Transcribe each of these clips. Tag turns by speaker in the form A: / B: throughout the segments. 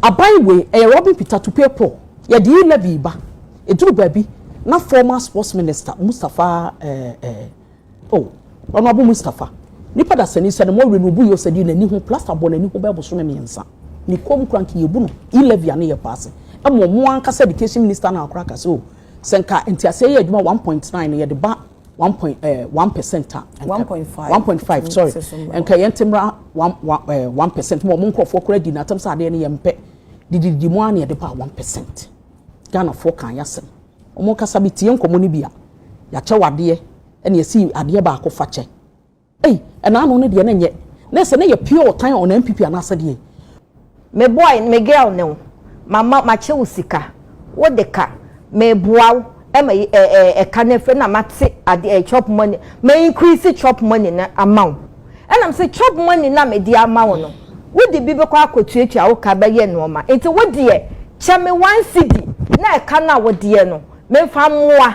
A: Aban wei ɛyɛ Robin Peter Tupepoor yɛde yi levy ba ɛduru baabi na former sports minister Mustapha eh, eh, oh, Honorable Mustapha nipa dasani sɛ ne mo awie no obu yɛ sɛ de n'ani ho plaster bɔ n'ani ho bɛɛ bosome mmiɛnsa ne kɔm kura nka yɛbu no yi levy a ne yɛ paase ɛmo mo ankasa education minister na akora ka sɛ o oh, sɛ nka nteaseɛ yɛ adwuma 1.9 no yɛde ba one point ɛɛ eh, one percent a. one point five one point five sorry nka yɛn ti mura one one ɛɛ eh, one percent mu wɔn nkorɔfoɔ kura di n'atam sɛ adeɛ no yɛn mpɛ dididi mu a na yɛde ba one percent ghanafoɔ kan yɛ asɛm wɔn kasa bi tie nkɔmɔ no bi a yɛakyɛ wadeɛ ɛna yɛsi adeɛ baako fa kyɛ. Ei ɛna ano no deɛ na nyɛ na sɛ na yɛ pure ɔtan a ɔnaa mpipi anaa sɛdeɛ ei. Me boy
B: me girl ne wo mama makyɛ wo sika wo de ka me boa wo ma yi eh eh ɛka no afiri na mate ade eh chop money ma increase chop money no ama wo ɛna me se chop money no a me de ama wo no wo de bi bɛkɔ akɔ tuatua wo ka bɛyɛ nnoɔma nti wo deɛ kyɛ me one cedi na ɛka no a wo deɛ no me mfa mmoa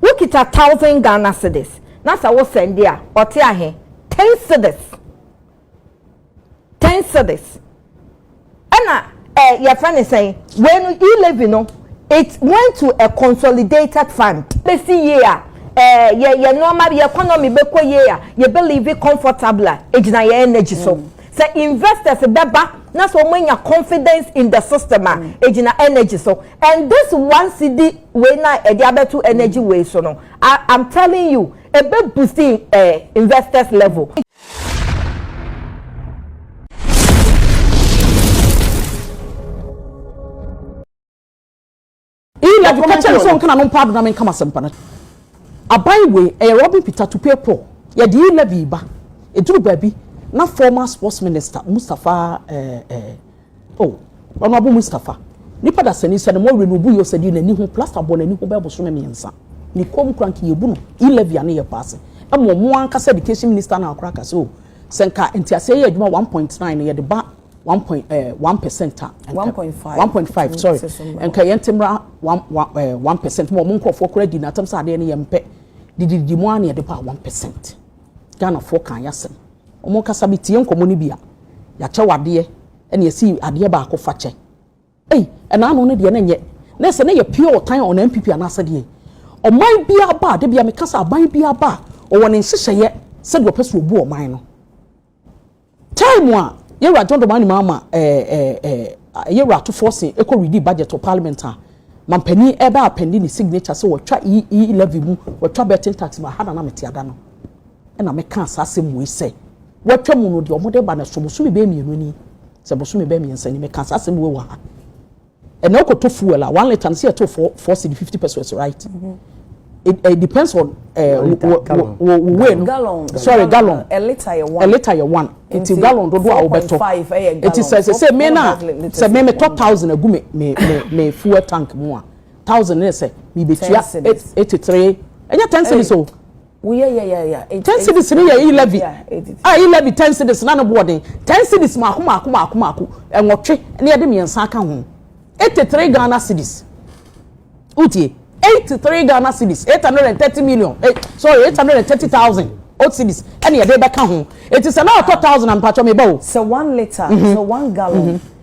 C: Wo kita thousand Ghana cedis na sɛ wo sɛnde a ɔte ahe? Ten cedis ten cedis ɛna ɛɛ yɛfrɛ ne sɛn wei no e levy no it went to a consolidated fund. Bɛsi yie a ɛɛ yɛ yɛ nnoɔma yɛ economy bɛkɔ yie a yɛ bɛ live comfortably a ɛgyina yɛ energy so sɛ investors bɛba na sɛ wɔn anya confidence in the system a ɛgyina energy so And this one cedi wei na ɛde abɛto energy wei so no I am telling you ɛbɛ boost eh, investors level.
A: Ilaju kɛkyɛ nso nkana no mpaado na menkama sɛmpa no aban wei ɛyɛ Robin Peter to pay poor yɛde yi levy ba ɛduru baabi na former sports minister Mustapha eh, eh, Oh ɔno Abu Mustafa nipa dasani sɛ ne mo awie no obu yɛ ɔsɛdi n'ani ho plaster bɔ n'ani ho bɛɛ bosome mmiɛnsa ne kɔn mu kura nka yɛbu no E levy a ne yɛ paase ɛma ɔmo ankasa education minister no a kora ka sɛ oh sɛ nka nteaseɛ yɛ adwuma one point nine no yɛde ba one point eh one percent a One nka point five one point five sorry sɛ so mmra nka yɛnte mmra one one eh one percent ma ɔmo nkorɔfoɔ kora di n'atam sɛ adeɛ no yɛmpɛ didididi mo ara ne yɛde ba one percent. Ghanafoɔ kaa yɛ asɛm. Ɔmo ankasa me tie nkɔmɔ no bi a, y'akyɛ w'adeɛ ɛna y'asi adeɛ baako fa kyɛ. Ei ɛna ano no deɛ na nyɛ na ɛsɛ na yɛ pure ɔtan on NPP anaasɛ deɛn. Ɔman biaa ba a, da biaa meka sɛ aban biaa ba a ɔwɔ ne nhyehyɛeɛ sɛdeɛ ɔpɛ sɛ ɔbu ɔman no. Time a Yewura John Dramani Mahama ɛɛɛ Yewura Atufoɔ se ɛkɔ redi budget wɔ parliament a, Manpanin ɛɛbɛ apɛndi ne signature se wɔtwa EE levy mu, wɔtwa betting tax mu, aha na na mete ada no na mekaa saa asem wei sɛ, wɔatwa mu no deɛ wɔde ba no so bosome bɛyɛ mmienu ni, sɛ bosome bɛyɛ mmiɛnsa ni, mekaa saa asem wei wɔ ha. Ɛnɛ wokɔ tɔ fuel a one litre no sɛ yɛto four four cedi fifty pesos right mhm. it, it depends on eh, wo wei
C: no sorry gallon a
A: litre yɛ one a litre
C: yɛ one nti
A: gallon dodo a wobɛtɔ nti sɛ sɛ sɛ me na sɛ me metɔ thousand agu me me me fuel tank mu a thousand ne sɛ me betua eighty three ɛnyɛ ten cedis o.
C: Ten cedis no
A: yɛ e-levy a e-levy ten cedis na ne boɔ den, ten cedis mmaako mmaako mmaako mmaako, nwɔtwe na yɛde mmiɛnsa aka ho, eighty three Ghana cedis. Wotie? Eighty three Ghana cedis, eight hundred and thirty million, eh, sorry, eight hundred and thirty thousand old cedis ɛna yɛde bɛka ho. Eti sɛ na ɔtɔ thousand a mpatwɔ meba o. Sɛ one litre, mhm.
C: sɛ one gallon. Mhm.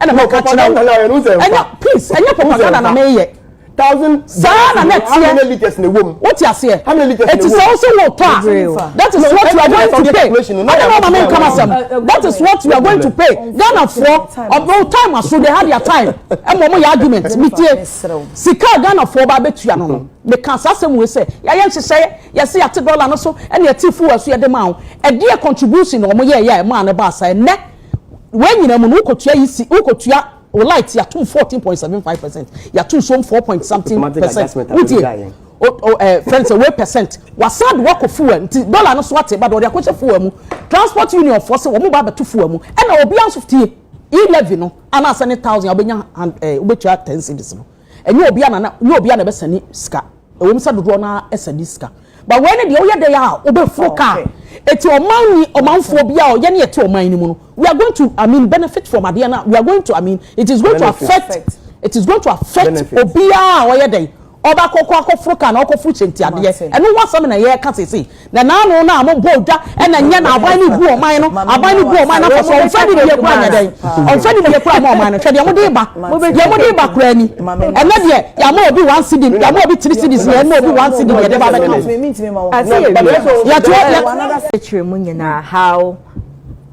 A: ɛna meka kyerɛ propaganda na ɛno sɛ ɛnyɛ please ɛnyɛ propaganda na meyɛ
D: saa na na
A: ɛteɛ
D: wote aseɛ
A: ɛti sɛ wo sɛ
D: wotɔ a
A: that is what you are going to pay ɛne na ɔma me nkama sɛm that is what you are going to pay ghanafoɔ ɔbɛwo time aso they have their time ɛma ɔmo yɛ argument metie sika a ghanafoɔ ba bɛtua no no meka saa sɛm wei sɛ yɛayɛ nhyehyɛeɛ yɛse yɛte dɔla no so ɛne yɛte fuwa so yɛde ma wo ɛdeɛ contribution na ɔmo yɛɛyɛ a ɛmaa no baa saa ɛnɛ Wei nyinaa mu no, wokotua yi si, wokotua o light yatum fourteen point seven five percent, yatum som four point something percent. Wotie o o eh, friend sɛ wei percent, wasan de wakɔ fuel nti dollar no so ate ba de ɔde akɔhyɛ fuel mu. Transport union foɔ sɛ wɔn ba abɛto fuel mu, ɛna obiara nso tie e levy no anaasɛ ne thousand a wobɛnya hand eh wobɛtua ten cedis no. Ɛnyɛ obia na ɛnyɛ obia na ɛbɛsɛne sika ɛwom sɛ dodoɔ no ara sɛne sika but wei no deɛ woyɛ dɛn a wobɛforo kaa ɛti ɔman ni ɔmanfoɔ biara ɔyɛ ne ɛte ɔman no mu no we are going to I mean benefit from adeɛ no a we are going to I mean it is going to affect it is going to affect obiara a ɔyɛ dɛn ɔba kɔkɔ akɔforo kaa na ɔkɔforo kyɛnti adeɛ ɛno ho asɛm na yɛka seesei Nananom no a wɔbɔɔ dwa na ɛnyɛ na aban no gu wɔn no, aban no gu wɔn no afɔ so, wɔmfa no bie koraa nyɛ dɛn? Wɔmfa no bie koraa mma wɔn no, hwɛ deɛ mode reba, deɛ mode reba koraa ni, ɛnnɛ deɛ yɛama obi one cedi, yɛama obi three cedis, na yɛma obi one cedi na yɛde ba abɛka ho. Yɛtoa. Akyire mu
B: nyinaa how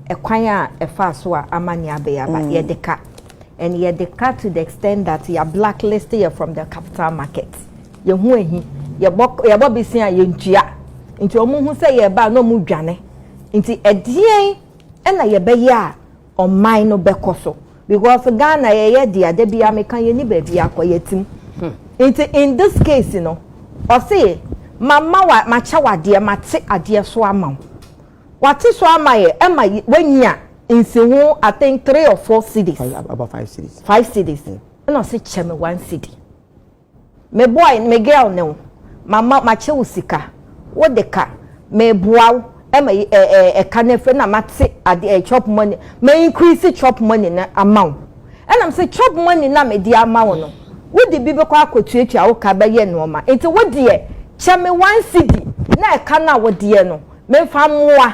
B: ɛkwan a ɛfaa so a amane abɛyɛ aba mm. yɛde ka and yɛde ka to the extent that yɛ blacklist yɛ from the capital market. Yɛn ho ahi. Yɛbɔ yɛbɔ bese a yɛntua. Nti wɔhu sɛ yɛreba a na wɔdwane. Nti ɛdeɛn na yɛbɛyɛ a ɔman no bɛkɔ so? Because Ghana yɛyɛ dea da biara meka yɛnni baabi akɔ yɛatim. Nti in this case no ɔse mama wa makyɛ wo adeɛ mate adeɛ so ama wo. Wate so ama yɛ ɛma wanya nsi ho I think three or four cities. About five cities.
D: Five cities.
B: Ɛna ɔse kyɛ me one city. Me boy me girl ne wo mama makyɛ wo sika wo de ka meboa wo ma yi eh eh eh ka no afiri na mate ade eh chop money ma increase chop money no ama wo ɛna me se chop money no a me de ama wo no wo de bi bɛkɔ akɔtuatua wo ka bɛyɛ nnoɔma nti wo deɛ kyɛ me one cedi na ɛka no a wo deɛ no me mfa mmoa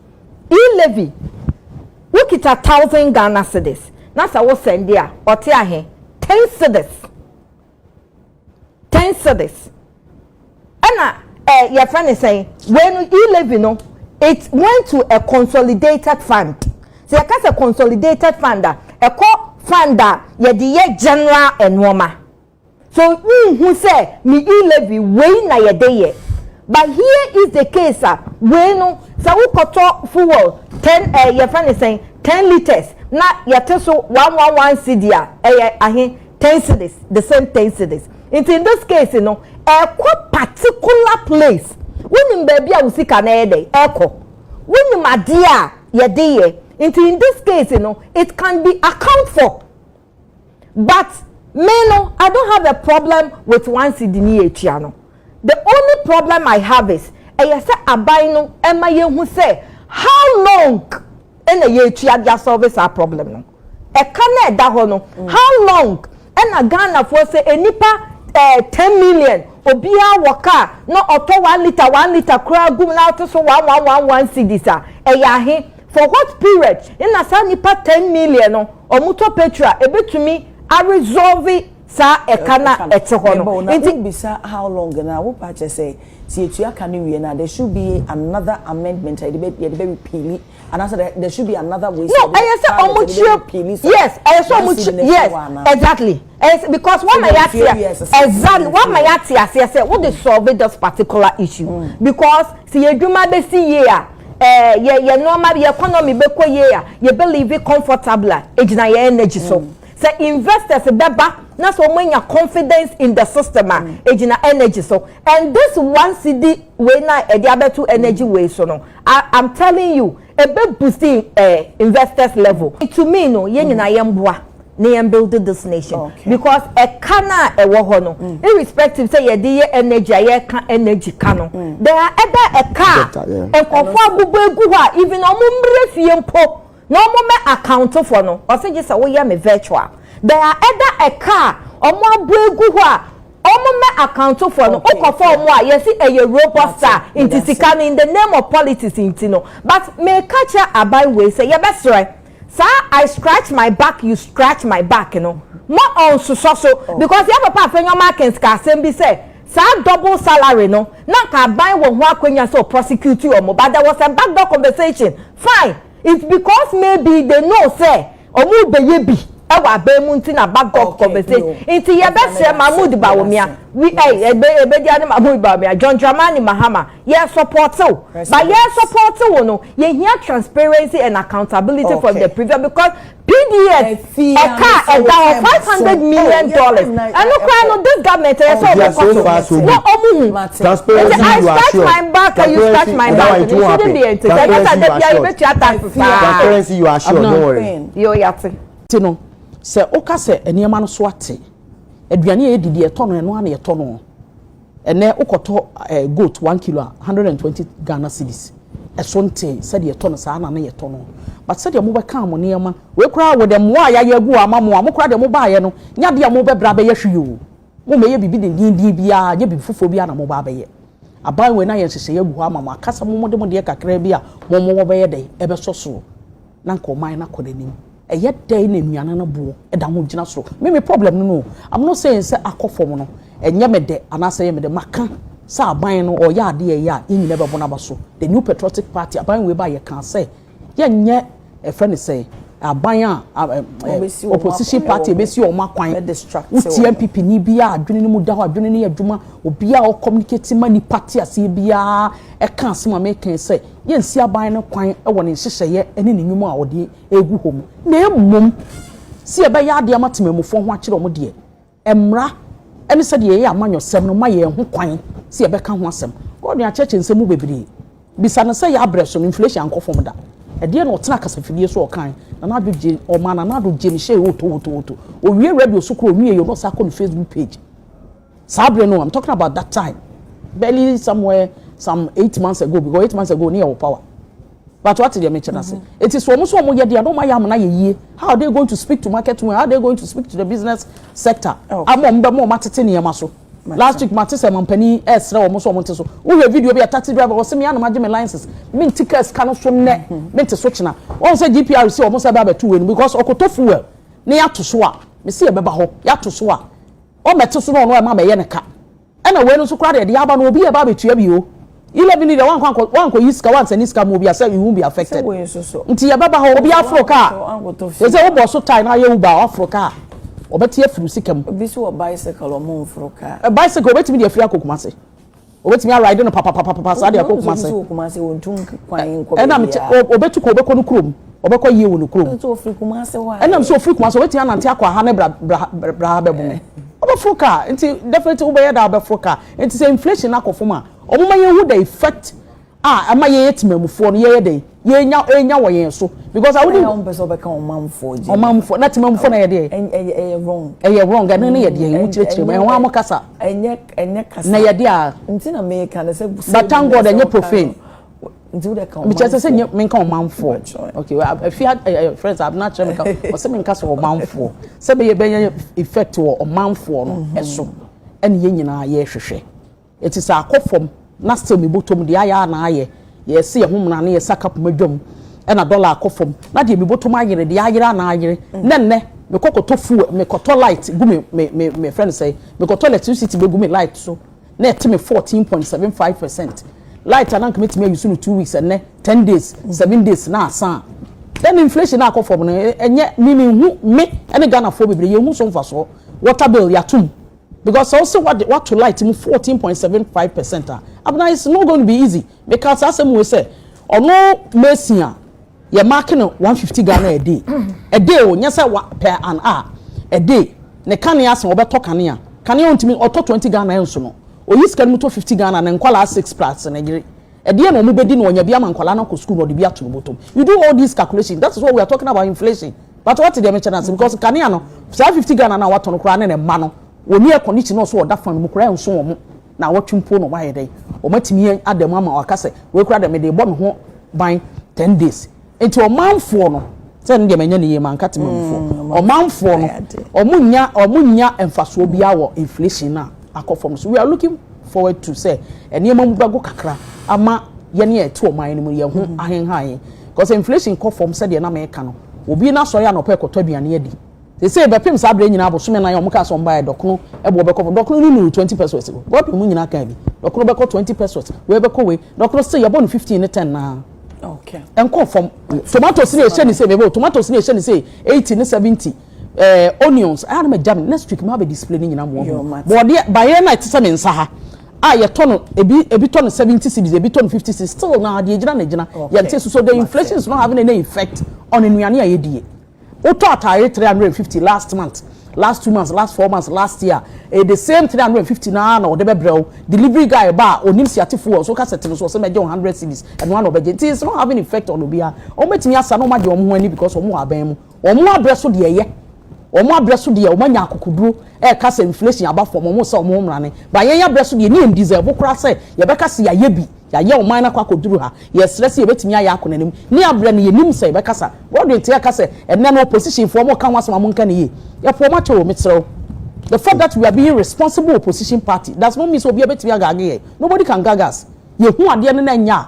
B: E Levi, wo kita thousand Ghana cedis na sɛ wo sɛnde a ɔte ahe? Ten cedis, ten cedis. Ɛna eh, yɛfrɛ ne sɛn, wei no E Levi no, it went to a consolidated fund. Sɛ yɛka sɛ consolidated fund a, ɛkɔ fund a yɛde yɛ general nneɛma. So wonhu sɛ me E-levy wei na yɛde yɛ? But here is the case a, wei no sɛ wokɔtɔ fuel ten eh yɛfrɛ no sɛn ten litres na yɛte so one one one cedi a, ɛyɛ ahe? Ten cedis, the same ten cedis. Nti in this case no, ɛkɔ particular place. Wonim baabi a wo sika no ɛyɛ dɛn ɛkɔ. Wonim adeɛ a yɛde yɛ. Nti in this case no, it can be account for. but me no I don't have a problem with one cedi ne yɛtua no the only problem I have is ɛyɛ sɛ aban no ɛma yɛhu sɛ how long ɛna yɛtua de asɔlve saa problem no ɛka na ɛda hɔ no mm. how long ɛna Ghanafoɔ sɛ nnipa ɛɛ eh, ten million obiara wɔ kaa na ɔtɔ one litre one litre koraa gum na ɔte so one one one one cedis a ɛyɛ ahe. For what period na saa nipa ten million no ɔmo tɔ petrol a ebetumi a resolve saa ɛka no a ɛte hɔ no nti. Wo bisa how long
E: no a wo paa kyerɛ sɛ sɛ yɛtua ka no wie no a there should be another amendment a yɛde bɛ yɛde bɛ repeali anaasɛ there there should be another way sɛ yɛde bɛ no ɛyɛ sɛ ɔmo kyerɛ
B: repeali saa yes ɛyɛ sɛ ɔmo kyerɛ yes exactly ɛyɛ because wɔn ma yɛate aseɛ exactly wɔn ma yɛate aseɛ sɛ wo de solve this particular issue because sɛ yɛ adwuma bɛ si yie a. eh, yɛ yɛ nneɛma yɛ economy bɛkɔ yie a yɛ bɛ live comfortable a egyina yɛ energy so mm. sɛ investors bɛba na sɛ wɔn anya confidence in the system a mm. egyina energy so and this one cedi wei na ɛde abɛto energy mm. wei so no i am telling you ebe boost eh, investors level to me no yɛn nyinaa yɛn boa. na yɛn build this nation okay. because ɛka no a ɛwɔ hɔ no mm. irrespective sɛ yɛde yɛ energy a yɛka energy ka no mm. there are ɛda ɛka a nkɔfoɔ abobɔ egu hɔ a even ɔmo mmerɛ fie mpo na
C: ɔmo mɛ account fo no ɔsɛ gye sɛ woyɛ me virtual there are ɛda ɛka a ɔmo abɔ egu hɔ a ɔmo mɛ akantofo no okɔfo ɔmo a yɛsi ɛyɛ robot star nti sika no in the name of politics nti no but mɛka kyerɛ aban wei sɛ yɛbɛsrɛ. Saa I scratch my back you scratch my back no mma ɔnsosɔ so because yɛn papa Afenwoma Akins kaa asɛm bi sɛ saa double salary no na anka aban wɔ ho akwanya sɛ ɔprosecute wɔn but there was a back door conversation fine it's because maybe they know sɛ wɔrebɛyɛ bi wɔ aban mu nti na back door conversation nti yɛbɛsrɛ Mahmood Bawumia we ɛy ɛbɛdi ano Mahmood Bawumia John Dramani Mahama Yɛ supporte wo but yɛ supporte wo no yɛ hia transparency and accountability okay. from the previous because pdf ɛka ɛda hɔ five hundred million dollars ɛno kora no this government ɛyɛ sɛ ɔbɛ kɔ so na ɔmu hu nti i scratch my back and you scratch my back it shouldn't be ntete ɛnyɛ sɛ ɛdɛ bia yɛbɛ tua tax paa
D: transparency you are sure don't worry yɛ ɔyɛ ate.
C: ti no
A: sɛ ɔka sɛ nneɛma no so ate aduane a yɛ didi ɛtɔ no ɛno a na yɛtɔ no. Ɛnnɛ wokɔtɔ goat one kilo a, hundred and twenty Ghana cedis. Ɛso ntee sɛdeɛ yɛtɔ no saa na na yɛtɔ no. But sɛdeɛ mobɛkaa mo nneɛma, wei koraa with the mmoa a yɛayɛ agu hɔ ama mo a, mo koraa deɛ mobaaeɛ no, nyɛ adeɛ a mobɛbrɛ abɛyɛ hwee o. Mommɛyɛ biribi dendenden biara, nyɛ biribi foforɔ biara na moba abɛyɛ. Aban wei no ayɛ nhyehyɛeɛ agu hɔ ama mo, aka sɛ mo mode mo deɛ kakraa bi a mo mowɔ bɛyɛ dɛn? Ɛbɛsɔ soɔ. na anka ɔman no akɔ n'anim. Ɛyɛ dɛn na anuanom no boɔ da ho gyina so? Me me problem no no o, I'm not saying sɛ akɔ fam no ɛnyɛ me dɛ anaasɛ ɛyɛ me dɛ, maka sɛ aban no ɔyɛ adeɛ a ɛyɛ a yɛn nyinaa bɛbɔ no aba so. The New Patriotic Party, aban wei baa yɛkaa sɛ yɛnyɛ ɛfrɛ no sɛn, aban a opposition party a ɛbɛsi wɔn akwan, wotie NPP ni biara a adwene no mu da hɔ a adwene no yɛ adwuma, obiara a ɔcommunicate ma nnipa te aseɛ biara ɛka asɛm a meka yi sɛ, yɛnsi aban no kwan wɔ ne nhyehyɛeɛ ne ne nnwuma a ɔde regu hɔ mu, na mmom sɛ yɛbɛyɛ adeɛ ama temanmufoɔ ho akyerɛ wɔn deɛ, mmara ne sɛdeɛ yɛyɛ amanyɔsɛm no ma yɛn ho kwan sɛ yɛbɛka ho asɛm. Gordon akyerɛkyerɛ nsɛm mu bebree. Bisa no sɛ yɛ abrɛ so no inflation ankɔ fam da. Ɛdeɛ na ɔtena kasafidie so ɔkan. Nana Addo gye ɔmaa Nana Addo gye ne hyɛɛ wotowotowoto. Ɔwie radio so koraa ɔnwie yɛ na ɔsan kɔ ne Facebook page. Saa bere no, I'm talking about that time, barely somewhere some eight months ago because eight months ago ne yɛ wɔ power. But what deɛ mekyerɛ ase. Mm-hmm. Eti so wɔn so wɔn yɛ deɛ na wɔn ayɛ amena yɛ yie. How are they going to speak to market women? How are they going to speak to the business sector? Oh. Ama wɔn bɛ mo wɔn atete nneɛma so. Last week mate sɛ mampanin ɛsrɛ wɔn so wɔn te so. Wohwɛ video bi a taxi driver wɔsɛ mi anam agye mi license. Mi nti kaa sika no so nnɛ. Mi mm-hmm. nti so kyena. Wɔn sɛ GPR si wɔn sɛ bɛ abɛto wɔ anim because ɔkoto fuel ne yɛ ato so a. Mesi yɛ bɛba hɔ yɛ ato so a. Ɔmmɛto so na ɔno ɛma mɛyɛ no ka. Ɛna wei no nso koraa deɛ deɛ aba no obi ɛba abɛtua bi o. Eleven ni deɛ wankɔ ankɔ wankɔ yi sika wansɛne sika ma obi a sɛ you won't be affected. Nti yɛbɛba hɔ obi aforo car. Sɛ sɛ wobɔ so tae na ayɛ Uber a waforo car. Ɔbɛte afiri wo sika mu. Obi nso wɔ bicycle
E: ɔmo nforo car. Bicycle obetumi de afiri
A: akɔ Kumasi. Obetumi aride no papapapapa saa deɛ kɔ Kumase. Ɔno nso wɔ Kumase ɔntu kwan
E: nkɔ baabiara. Ɛna me te
A: ɔbɛtu
E: kɔ
A: ɔbɛkɔ no kurom ɔbɛkɔ yie wɔ no kurom. Nso ɔfiri Kumase hɔ
E: a. Ɛna me sɛ ɔfiri Kumase ɔbɛtumi
A: anante akɔ aha ne bra ha bɛbo me. Ɔbɛforo kaa nti definitely wobɛyɛ dɛn abɛforo kaa nti sɛ inflation no akɔ fam a ɔmoma yɛnhu the effect a ɛma yɛyɛ temanmufoɔ no yɛyɛ dɛn yɛnya ɛnya wɔ yɛn so because a wone wɔn pɛ sɛ wɔbɛka ɔmanfoɔ
E: gye ɔmanfoɔ na
A: temanmufoɔ na yɛdeɛ ɛyɛ wrong
E: ɛyɛ wrong ɛno ne
A: yɛdeɛ ɛho kyerɛkyerɛ mu ɛho amo kasa ɛnyɛ ɛnyɛ
E: kasa na yɛdeɛ a nti
A: na meka
E: no sɛ but thank God ɛnyɛ
A: profane nti wode
E: ka ɔmanfoɔ mekyerɛ sɛ nyɛ menka
A: ɔmanfoɔ okay afi friends abena kyerɛ meka ɔsɛ menka sɛ ɔmanfoɔ sɛ bɛyɛ bɛyɛ effect wɔ ɔmanfoɔ no ɛso ɛne yɛn nyinaa yɛhwehwɛ Eti sɛ akɔ fam na sɛ me botom deɛ ayɛ a na ayɛ, yɛse yɛn ho mena ne yɛse aka poma dwam ɛna dollar akɔ fam na deɛ me botom ayere deɛ ayere a na ayere na nnɛ me kɔ kɔtɔ fuel me kɔtɔ light gu me me me me friend sɛ me kɔtɔ electricity bɛ gu me light so na ɛte me fourteen point seven five percent light a na nka mɛtumi ayusu no two weeks ɛnnɛ ten days seven days na asan a then inflation na akɔ fam no ɛnyɛ me me hu me ɛne Ghanafoɔ bebree yɛn hu so mfasoɔ water bill yɛatom Because sɛ wose wade wato light mu fourteen point seven five percent a, abena it's not going to be easy. Mekaa saa asɛm wei sɛ, ɔno mason a, yɛ mark no one fifty Ghana a day. A day o, nyɛ sɛ wa per an hour. A day. Ne kanea se ɔbɛtɔ kanea. Kanea a ontumi, ɔtɔ twenty Ghana ɛnso no. Oyi sika no mu tɔ fifty Ghana ne nkwadaa six plus ne yere. Ɛdeɛn na wɔbɛdi na wanya bi ama nkwadaa no akɔ sukuu na ɔde bi ato ne bɔtɔm. You do all these calculations, that is what we are talking about inflation. But wate deɛ mekyɛ no ase because nkanea no saa fifty Ghana no a watɔ no koraa ne ne mma no wɔni air condition ɔso ɔda fan mu koraa ɛnso wɔn na awɔtwe mpo na wɔn ayɛ dɛn wɔn atumi ada mu ama waka sɛ wei koraa deɛ mede bɔ me ho ban ten days nti ɔmanfoɔ no sɛ ne deɛ manya ne yie ma nka tema mufoɔ mm, ɔmanfoɔ no wɔn nya wɔn nya mfasoɔ biara wɔ inflation no a akɔ fam so we are looking forward to sɛ nneɛma mu bɛgo kakra ama yɛne ɛte ɔman no mu yɛn ho mm-hmm. ahenhan yɛn. Cos inflation kɔ fam sɛdeɛ na meka no, obi na sɔre anɔpa ɛkɔtɔ aduane adi. Seisei bɛpem saa berɛ nyinaa bosome nan a wɔkaa sɛ wɔmbaeɛ dɔkono ɛboɔ bɛkɔ fam, dɔkono no nnuru twenty pesos o, God ɔmo nyinaa kaa bi, dɔkono bɛkɔ twenty pesos, wei bɛkɔ wei, dɔkono seisei yɛbɔ no fifteen ne ten naa ɛnkɔɔ fam, tomatoes no a yɛhyɛ no seisei, mebo, tomatoes no a yɛhyɛ no seisei eighty ne seventy, ɛɛ onions, ɛyɛ a na magya me, next week maba abɛ display ne nyinaa ama wɔahunu, bɔɔdeɛ, baeɛ no a ɛte sɛ me nsa ha. a yɛtɔ no ebi ebi tɔ no seventy cedis ebi tɔ no fifty cedis still na deɛ gyina na gyina yɛn ti so so the inflation is not having any effect on nnuane a yɛdie wotɔ ataare three hundred and fifty last month last two months last four months last year eh the same three hundred and fifty na na ɔde bɛbrɛ wo delivery guy ba a onim siate fuel so kasa tene so ɔsɛ mɛgye one hundred cedis ɛno ano ɔbɛgye nti it's not having effect on obiara wɔn bɛtumi asa na wɔn agye wɔn ho ani because wɔn wɔ abɛn mu. Wɔn abrɛ so deɛ ɛyɛ. Wɔn abrɛ so deɛ wɔn anya akokoduro ɛka sɛ inflation aba fam wɔn sɛ wɔn mmrane but yɛn abrɛ so deɛ ne yɛn deserve koraa sɛ yɛbɛka sɛ yɛayɛ bi yɛayɛ ɔman no akɔ akɔduru ha yɛsrɛ sɛ yɛbɛtumi ayɛ akɔ nanim ne abrɛ no yɛnim sɛ yɛbɛkasa Rodwin te ɛka sɛ ɛnnɛ no opposition foɔ wɔn ka ho asɛm a monka no yie yɛpo wɔn akyɛ o mesrɛ wo the fact that we are being responsible opposition party does not mean sɛ obiara bɛtumi agage yɛn nobody can gag us yɛhu adeɛ no na ɛnyɛ a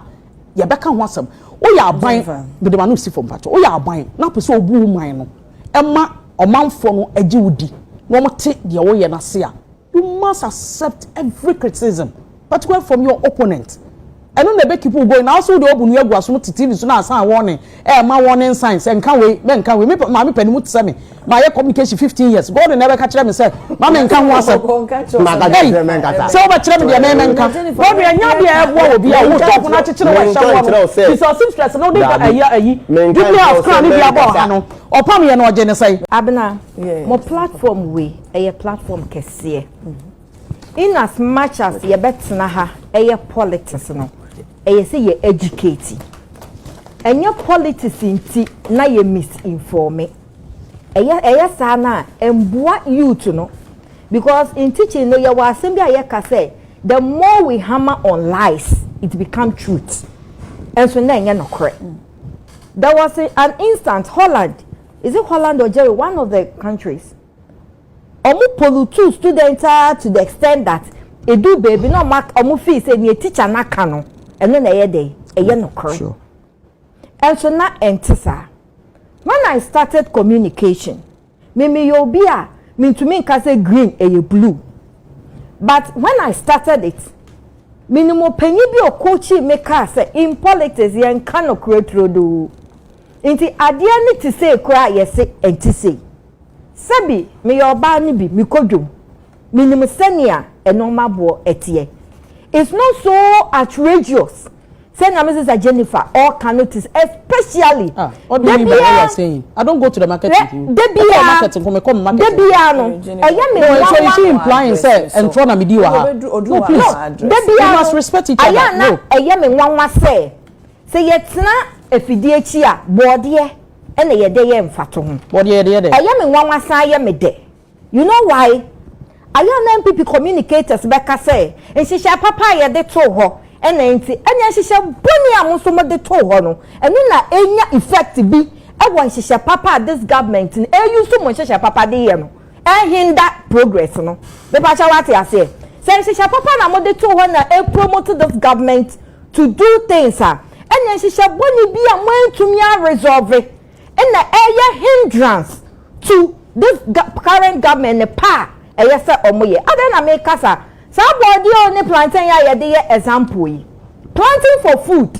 A: yɛbɛka ho asɛm woyɛ aban mede m'ano si fam mpakyɛ woyɛ aban na apɛ sɛ obu wo man no ɛma ɔmanfoɔ no agye wo di na wɔte deɛ woyɛ no ase a you must accept every criticism particularly from your opponent ɛno na ɛbɛ keep wo going na wo so wode ɔbu no agu aso no te tv so na asan wɔne Eh ma warning signs nka wei bɛ nka wei me maame pɛ ne mu te sɛ me ma yɛ communication fifteen years God na ɛbɛka kyerɛ me sɛ ma me nka ho asɛm ɛyi sɛ wobɛ kyerɛ me deɛ mɛ mɛ nka God na ɛnya deɛ ɛboa wɔ bi a wo top na akyekyere wɔ ɛhyɛ wɔ no ti sɛ ɔsim stress no wode ka ɛyi ɛyi dibli a ɔkra ne bi abɔ ɔha no ɔpam yɛ na ɔgye ne sɛ. Abena, mo
B: platform wei ɛyɛ platform kɛseɛ. In as much as yɛbɛtena ha ɛyɛ politics no, ɛyɛ sɛ yɛ educate. Ɛnyɛ politics nti na yɛ misinforme. Ɛyɛ ɛyɛ saa na ɛmboa youth no. Because in teaching no yɛwɔ asɛm bi a yɛka sɛ the more we hammer on lies, it become truth. Ɛnso na ɛnyɛ nokorɛ. There was an instant Holland, is it Holland or Germany, one of the countries? Ɔmo polutuu students ara to the extent that eduu baabi na ɔmo ak ɔmo feel sɛ nea teacher no aka no ɛno na ɛyɛ dɛn? Ɛyɛ nokorɛ. Sure. Ɛnso na ɛnte saa. When I started communication, me meyɛ obi a mentumi nka sɛ green ɛyɛ blue. But when I started it, menim ɔpanyin bi a ɔcoachii me kaa sɛ in politics yɛnka nokorɛ turodoo. Nti adeɛ no te sei koraa a yɛse ɛnte sei. Sɛbi meyɛ ɔbaa no bi, mekɔ dwom. Menim sɛnea nnoɔma boɔ teɛ. It's not so outrageous sɛ nea me sister Jennifer ɔka no te especially. Ah, ɔde mi ba
A: ɛyɛ sɛn? I don't go to the market with you. Debi ya. Market nko mekɔ mi market. Debi ya no. Ɛyɛ mi nwa nwa. So is she implying sɛ ntorɔ na mi di wɔ ha? No please. Debi ya no. You must respect each other. Ayɛ na ɛyɛ mi nwa nwa
B: sɛ. Sɛ yɛtena afidie akyi a, bɔɔdeɛ na yɛde yɛ mfatoho. Bɔɔdeɛ yɛde yɛ dɛ. Ɛyɛ
A: me nwanwa san yɛ
B: me dɛ. You know why? Ayɛ a na NPP communicators bɛka sɛ nhyehyɛe papa a yɛde too hɔ na enti, ɛnneɛ nhyehyɛ bɔne a mo nso mode too hɔ no, ɛno na ɛnya effect bi wɔ nhyehyɛ papa a this government no ɛuse mo nhyehyɛ papa de yɛ no ɛnhinda progress no. Me pa kyɛw wate aseɛ? Sɛ nhyehyɛ papa na mo de too hɔ na e promote this government to do things a, ɛneɛ nhyehyɛ bɔne bi a mo antumi a resolve na ɛyɛ hindrance to this current government ne pa a ɛyɛ sɛ ɔmo yɛ. Adɛn na me ka saa? Saa bɔɔdeɛ o ne plantain a yɛde yɛ example yi, planting for food,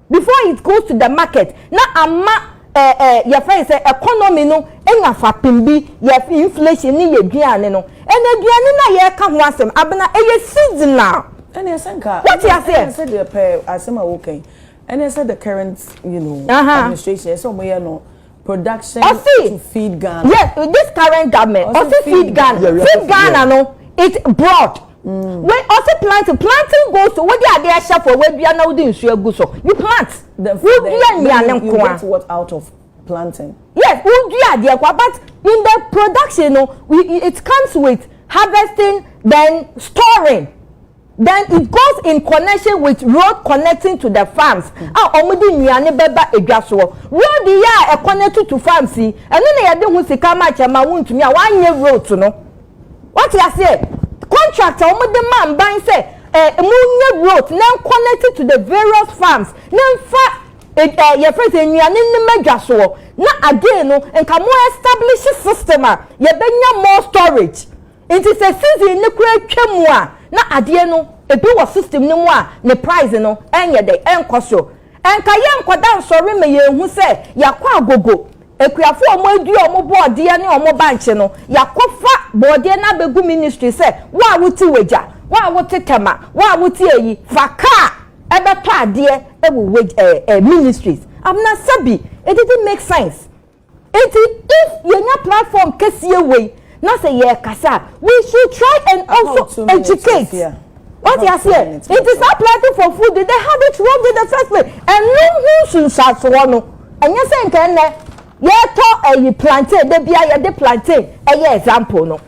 B: Before it goes to the market na ama eh eh yɛfrɛ no sɛ economy no anya fapem bi yɛ inflation ne yɛ aduane no and aduane no a yɛreka ho asɛm Abena ɛyɛ seasonal Ɛneɛ sɛ nka
E: Wote aseɛ? ɛneɛ sɛ deɛ
B: pɛɛ asɛm
E: a woka yi ɛneɛ sɛ the current you know Aha. administration ɛsɛ sɛ ɔmo yɛ no ɔsi yes this current
C: government ɔsi feed ghana feed ghana no it broad mm. wey ɔsi planting planting goes to wodi adi ɛhyɛ fo wadua na wodi nsu egu so you plant wodua nnuane
E: nkoa planting. yes wodua
C: adi ɛkoa but in the production no it comes with harvesting then storing. Then it goes in connection with road connecting to the farms a wɔn de nnuane bɛba edwa soɔ. Road yi a ɛconnect to farms yi, ɛno na yɛde ho sika ma kyɛ ma wontumi a wɔanyɛ roads no. Wate aseɛ? Contract a wɔn de ma mban sɛ eh, mo nyɛ roads na connect to the various farms na nfa eh, eh, yɛfrɛ sɛ nnuane no ma dwa soɔ na again no nka mo establish system a yɛbɛnya more storage. Nti sɛ season no koraa twa mu a na adeɛ no ebi wɔ system no mu a ne price no ɛnyɛ dɛ ɛnkɔ soro. Ɛnka yɛnkɔda nsɔre ma yɛnhu sɛ yɛakɔ agogo akuafoɔ a wɔadua wɔn bɔɔdeɛ ne wɔn bankye no, yɛakɔfa bɔɔdeɛ no abɛgu ministry sɛ wo a wote Wagya, wo a wote Tema, wo a wote ayi, fa car ɛbɛtɔ adeɛ wɔ Wagya ɛɛ ɛɛ ministries. Abena sɛbi it didn't make sense. Enti if yɛnya platform kɛseɛ wei na sɛ yɛrekasa a we should try and also educate wate aseɛ nti saa planting for food de they had it wrong in the first place ɛno ho nsunsuansoɔ no ɛnyɛ sɛ nka ɛnɛ yɛtɔ ɛyi plantain da bia yɛde plantain ɛyɛ example no